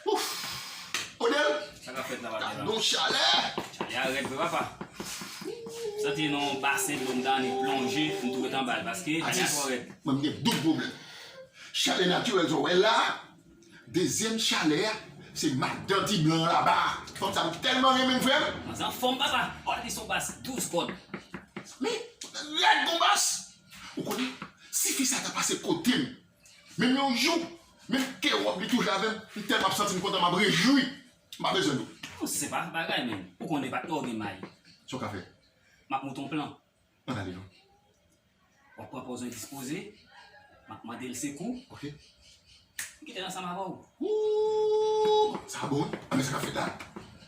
Ouf! Odel! Sa ka fèt la pa gen la. Don chalè! Chalè a rèd vre papa. Soti nan yon basen dlo mta ni plonje m tou ret anba l paske chalè a twò rèd. Atis, mwen m gen doub pwoblèm. Chalè natirèl sa w wè la, dezyèm chalè a se madan ti blan an laba a. Fanm sa m tèlman renmen l frè m. Fanm sa anfòm papa. Ò epi son bas 12 kòd. Men, rèd kon bas. Ou konnen, si fi sa ta pase kote m. Menm yon jou, menm ke wòb li toujou avèm, m tèlman ap santim kontan map rejwi, m pa bezwen nou. Ou senpa bagay menn, ou konnen pa twò gen may. Sa w ka fè? Map monte yon plan. Ann ale non. Wap pran pòz endispoze, map mande l sekou. Ok. M kite l ansanm avè w. Ooh! Sa bon wi. Ann men sa n ap fè la?